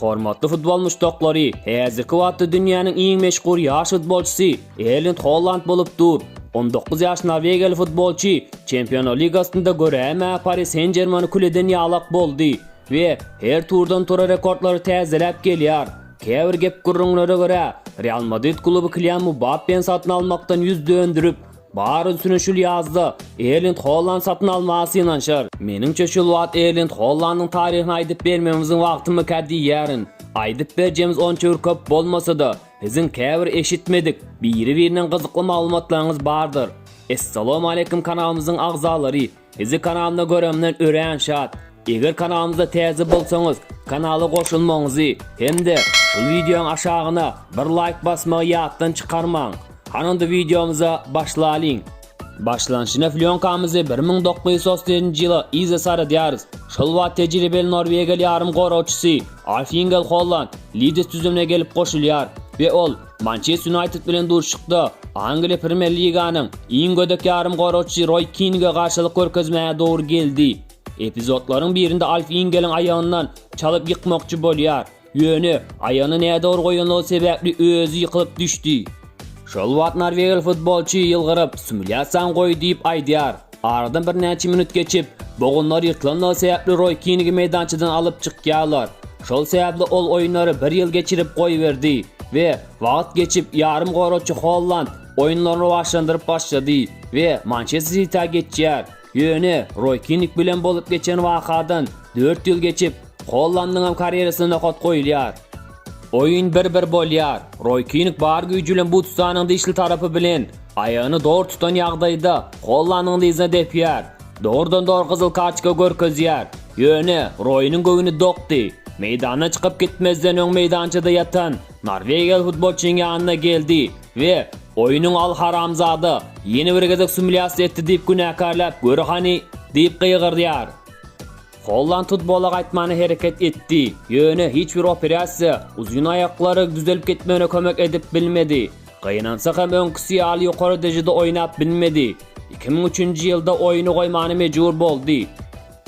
Hormatly futbol muşdaklary, häzirki wagtda dünýäniň iň meşhur ýaş futbolçysy Erlind Holland bolup dur. On dokuz ýaş norwegiýaly futbolçy Çempionlar ligasynda göräýmä Pari Sen-Žermeni kül eden ýalak boldy we her turdan tura rekordlary täzeläp gelýär. Käbir gep-gürrüňlere görä, Real Madrid kluby Kylian Mbappeni satyn almakdan ýüz dönderip, Bar ünsüni şul ýazda Erlind Holland satyn almaga synanyşar. Meniňçe şul wagt Erlind Hollandyň taryhyny aýdyp bermemiziň wagtymyka diýýärin. Aýdyp berjemiz onça bir köp bolmasa-da, siziň käbir eşitmedik, biri-birinden gyzykly maglumatlaryňyz bardyr. Essalom aleýkum kanalymyzyň agzalary. Sizi kanalda göremden örän şat. Eger kanalymyza täze bolsaňyz, kanala goşulmagyňyzy hem-de şul wideoň aşagyna bir laýk basmagy ýatdan çykarmaň. Hany onda wideomyza başlalyň. Başlanşyna flýonkamyzy bir müň dokuz ýüz otuz ýedinji ýyla yza saradýarys. Şol wagt tejribeli norwegiýaly ýarym goragçysy Alf Ingel Holland Lidis düzümine gelip goşulýar we ol, Mançester Ýunaýted bilen duşuşykda Angliýa Premýer Liganyň iň gödek ýarym goragçysy Roý Kinge garşylyk görkezmäge dogry geldi. Epizodlaryň birinde Alf Ingeliň aýagyndan çalyp ýykmakçy bolýar, ýöne aýagyny nädogry goýanlygy sebäpli özi ýykylyp düşdi. Şol wagt norwegiýaly futbolçy ýylgyryp, Sumulýasaň goý diýip aýdýar. Aradan birnäçe minut geçip, bogunlar ýyrtylanlygy sebäpli Roý Kingi meýdançadan alyp çykýarlar. Şol sebäpli ol oýunlary bir ýyl geçirip goýberdi we wagt geçip ýarym goraçy Holland oýunlaryny rowaçlandyryp başlady we Mançester Sitýa geçýär. Ýöne Roý Kingi bilen bolup geçen wakadan dört ýyl geçip, Hollandynyňam karýerasyna nokat goýulýar. Oýun bir-bir bolýar. Roý Kinn bar güýji bilen Butstanyň dişli tarapy bilen aýagyny dogry tutan ýagdaýda Hollandynyň dyzyna depýär. Dogrudan-dogry gyzyl kartoçka görkezýär. Ýöne, Roýunyň göwni dokdy. Meýdana çykyp gitmezden öň meýdançada ýatan norwegiýaly futbolçynyň ýanyna geldi we Oýunyň al haramzada, ýene bir gezek sumilýasiýa etdi diýip günäkärläp gör hany! diýip gygyrdýar. Holland futbola gaýtmana hereket etdi, ýöne hiç bir operasiýa uzyn aýaklary düzelip gitmegine kömek edip bilmedi. Gynansa hem öňküsi ýaly ýokary dejede oýnap bilmedi. Iki müň üçünji ýylda oýny goýmana mejbur boldy.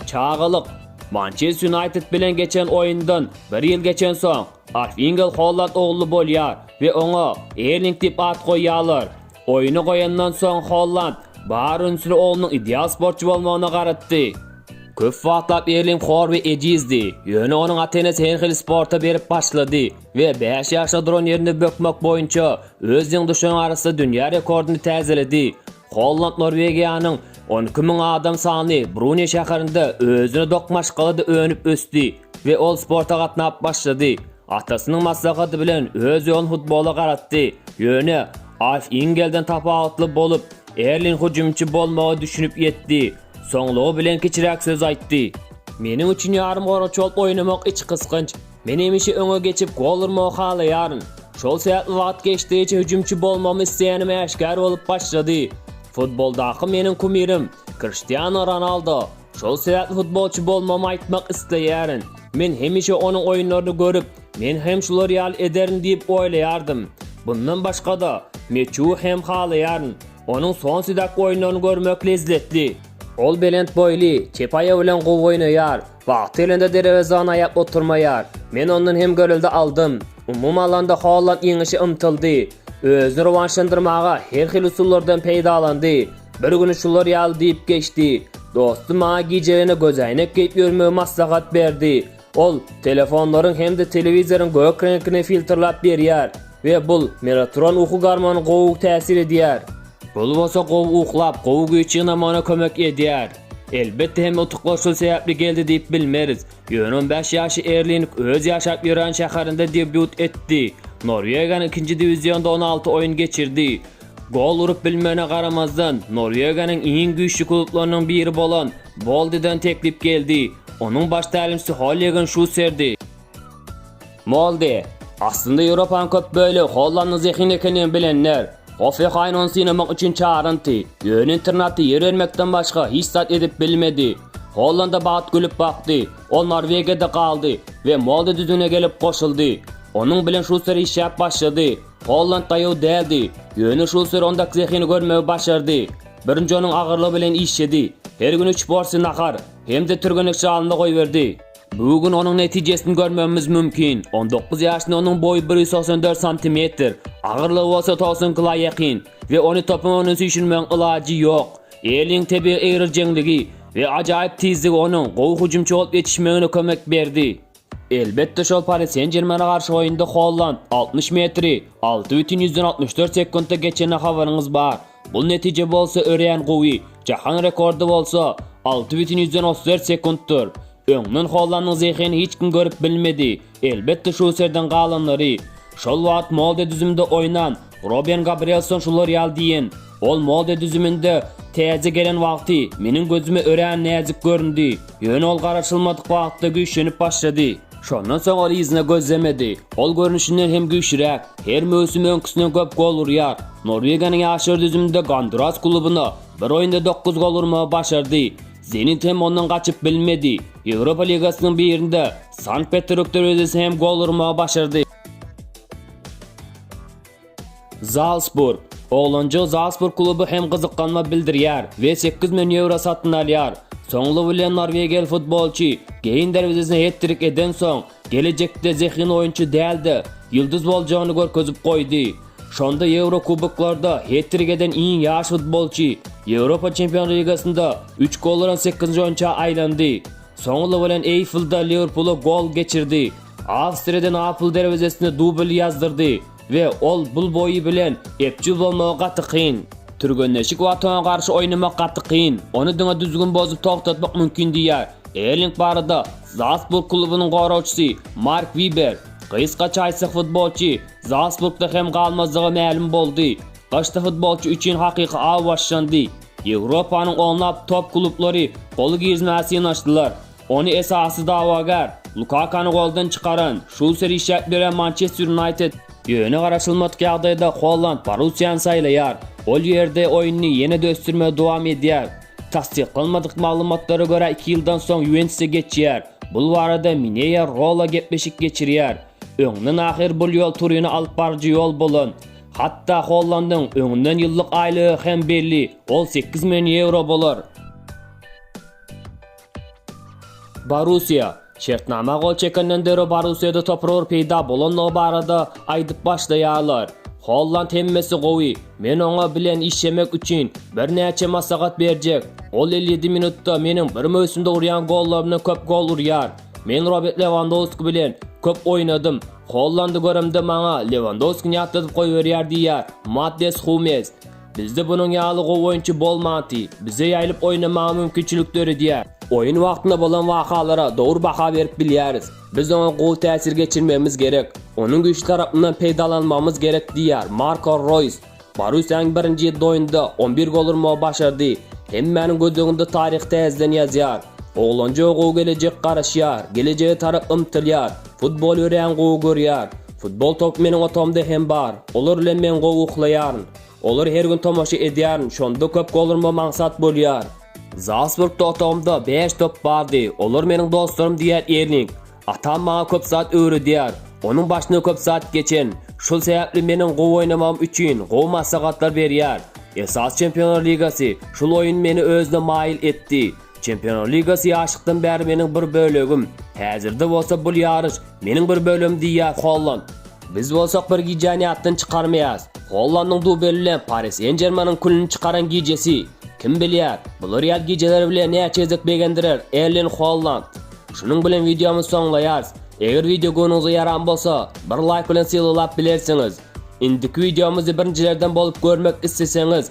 Çagalyk. Mançester Ýunaýted bilen geçen oýundan bir ýyl geçensoň, Arfingel Holland ogly bolýar we oňa Erling diýip at goýýarlar. Oýny goýandan soň Holland bar ünsüni oglunyň ideal sportçy bolmagyna garatdy. Köp wagtlap Erling Horbi ejizdi, ýöne onuň ata-enesi Henhil sporta berip başlady we bäş ýaşda duran ýerinde bökmek boýunça öz deň duşan arasynda dünýä rekordyny täzeledi. Holland Norwegiýanyň on iki müň adam sanly Brunýe şäherinde özüne dok maşgalada önüp-ösdi we ol sporta gatnap başlady. Atasynyň maslahaty bilen öz ýolun futbola garatdy. Ýöne, Alf Ingelden tapawutly bolup, Erling hüjümçi bolmagy düşünip ýetdi. Soňlugy bilen kiçiräk söz aýtdy. Meniň üçin ýarymgoragçy bolup oýnamak iç gysganç. Men hemişe öňe geçip gol urmagy halaýaryn. Şol sebäpli wagt geçdigiçe hüjümçi bolmagymy isleýänim äşgär bolup başlady. Futboldaky meniň kumirim Kriştianu Ronaldo. Şol sebäpli futbolçy bolmagymy aýtmak isleýärin. Men hemişe onuň oýunlaryny görüp, men hem şular ýaly ederin diýip oýlaýardym. Bundan başga-da, Meçu hem halaýaryn. Onuň Sonsidak oýunlaryny görmek lezzetli. Ol belent boýly, çep aýagy bilen gowy oýnaýar. Wagty gelende derewezäni aýap oturmaýar. Men ondan hem görelde aldym. Umumy alanda Holland ýeňişe ymtyldy. Özüni rowanşlandyrmaga her hili usullardan peýdalandy. Bir güni şular ýaly diýip geçdi. Dostum maňa gijegene gözäýnek geýip ýörmegi maslahat berdi. Ol telefonlaryň hem-de telewizoryň gök reňkini filtrlap berýär we bul melatoron uky gormony gowy täsir edýär. Bul bolsa gowy uklap, gowy güýç ýygnamagyna kömek edýär. Elbetde hem utuklar şul sebäpli geldi diýip bilmeris. Ýöne on bäş ýaşly Erling öz ýaşap ýören şäherinde debýut etdi. Norwegiýanyň ikinji diwizionda on alty oýun geçirdi. Gol urup bilmegine garamazdan, Norwegiýanyň iň güýçli klublarynyň biri bolan Moldeden teklip geldi. Onuň baş tälimçisi Hollegen Şusserdi. Molde, Aslynda Ýewropanyň köp bölegi Hollandyň zehin ekendigini bilenler. Hoffenhaýn ony synamak üçin çagyranty, ýöne internatda ýer bermekden başga hiç zat edip bilmedi. Hollanda bagt gülüp bakdy. Ol Norwegiýada galdy we Molde düzümine gelip goşuldy. Onuň bilen Şusser işläp başlady. Holland daýaw däldi. Ýöne Şusser ondaky zehini görmegi başardy. Birinji onuň agyrlygy bilen işjedi. Her gün üç porsiýa nahar hem-de türgenek jalyny goýberdi. Bu gün onuň netijesini görmegimiz mümkin. On dokuz ýaşly onuň boýy bir ýüz togsan dört santimetr, agyrlygy bolsa togsan kila ýakyn we ony topuň öňüne süýşürmegiň ilajy ýok. Erliň tebigy egrijeňligi we ajaýyp tizligi onuň gowy hüjümçi bolup ýetişmegine kömek berdi. Elbetde şol Pari Sen-Jermene garşy oýunda Holland altmyş metri alty bütin ýüzden altmyş dört sekuntda geçene habaryňyz bar. Bul netije bolsa örän gowy, jahan rekordy bolsa alty bütin ýüzden otuz dört sekuntdyr. Öňden Hollandyň zehini hiç kim görüp bilmedi. Elbetde şuserden galanlary. Şol wagt Molde düzümde oýnan Roben Gabrielson şular ýaly diýen, Ol moda düzüminde täze gelen wagty meniň gözüme örän näzik göründi, ýöne ol garaşylmadyk wagtda güýçlenip başlady. Şondan soň ol yzyna gözlemedi. Ol görnüşinden hem güýçlüräk, her möwsüm öňküsinden köp gol urýar. Norwegiýanyň ýaşlar düzüminde Gonduras klubuna bir oýunda dokuz gol urmagy başardy. Zenit hem ondan gaçyp bilmedi. Ýewropa ligasynyň birinde Sankt-Peterburg derwezesine hem gol urmagy başardy. Zalsburg. Oglanja Zalsburg kluby hem gyzyklanma bildirýär we 8 million ýewro satyn alýar. Soňly bilen norwegiýaly futbolçy Geýn derwezesine het-trik eden soň, gelejekde zehin oýunçy däl-de, ýyldyz boljagyny görkezip goýdy. Şonda Ýewrokuboklarda het-trik eden iň ýaş futbolçy, Ýewropa Çempionlar ligasynda üç gol uran sekizinji oýunça aýlandy. Soňly bilen Eýflda Liwerpula gol geçirdi. Awstriýadan Apl derwezesine dubl ýazdyrdy we ol bul boýy bilen epjil bolmagy gaty kyn. Türgenleşik Watana garşy oýnamak gaty kyn, ony diňe düzgün bozup togtatmak mümkin diýýär Erling barada Zalsburg klubunyň goragçysy Mark Wiber. Gysgaça aýtsak futbolçy Zalsburgda hem galmazlygy mälim boldy. Gyşda futbolçy üçin hakyky aw başlandy. Ýewropanyň onlap top klublary goly girmäge synanyşdylar. Ony esasy dawagär, Lukakany goldan çykaran, şul serişýäk berýän Mançester Ýunaýted, ýöne garaşylmadyk ýagdaýda Holland Borussiýany saýlaýar, ol ýerde oýnuny ýene-de ösdürmegi dowam edýär. Tassyklanmadyk maglumatlara görä iki ýyldan soň Ýuwentusa geçýär, bul barada Mineýa Rola gepleşik geçirýär. Öňden ahyr bul ýol Turine alyp baryjy ýol bolan. Hatda Hollandyň öňünden ýyllyk aýlygy hem belli, ol sekiz million ýewro bolar. Borussiýa, Şertnama gol çekenden döre Borussiýada topurar peýda bolandygy barada aýdyp başlaýarlar. Holland hemmesi gowy, men oňa bilen işjemek üçin birnäçe maslahat berjek. Ol elli ýedi minutda meniň bir möwsümde urýan gollarymdan köp gol urýar. Men Robert Lewandowski bilen köp oýnadym. Hollandy göremde maňa Lewandowskini ýatladyp goýberýär diýýär Mattias Humels. Bizde bunuň ýaly gowy oýunçy bolmanty, bize ýaýlyp oýnamaga mümkinçilik döredýär. Oýun wagtynda bolan wakalara dogry baha berip bilýäris. Biz oňa gowy täsir geçirmegimiz gerek. Onuň güýçli tarapyndan peýdalanmagymyz gerek diýýär Marko Roýs. Borussiýanyň birinji ýedi oýnunda on bir gol urmagy başardy. Hemmäniň gözleginde taryhy täzeden ýazýar. Oglanjyga gowy gelejek garaşýar, gelejege tarap ymtylýar. Futbol örän gowy görýär. Futbol topy meniň otagymda hem bar. Olar bilen men gowy uklaýaryn. Olar her gün tomaşa edýärin, şonda köp golrma maňsat bolýar. Zalsburgda otagymda bäş top bardy, olar meniň dostlarym diýýär Erling. Atam maňa köp zat öwredýär. Onuň başyna köp zat geçen. Şol sebäpli meniň gowy oýnamagym üçin gowy maslahatlar berýär. Esasy Çempionlar ligasy, şol oýun meni özüne maýyl etdi. Çempionlar ligasy ýaşlykdan bäri meniň bir bölegim. Häzirde bolsa bul ýaryş meniň bir bölegim diýýär Holland. Biz bolsak bir gijäni ýatdan çykarmaýarys. Hollandyň dubeli bilen Pari Sen-Žermeniň külüni çykaran gijesi. Kim bilýär, bular ýaly gijeler bile näçe gezek begendirer Erling Holland. Şunuň bilen wideomyzy soňlaýarys. Eger wideo göwnüňize ýaran bolsa, bir laýk bilen sylylap bilersiňiz. Indiki wideomyzy birinjilerden bolup görmek isleseňiz,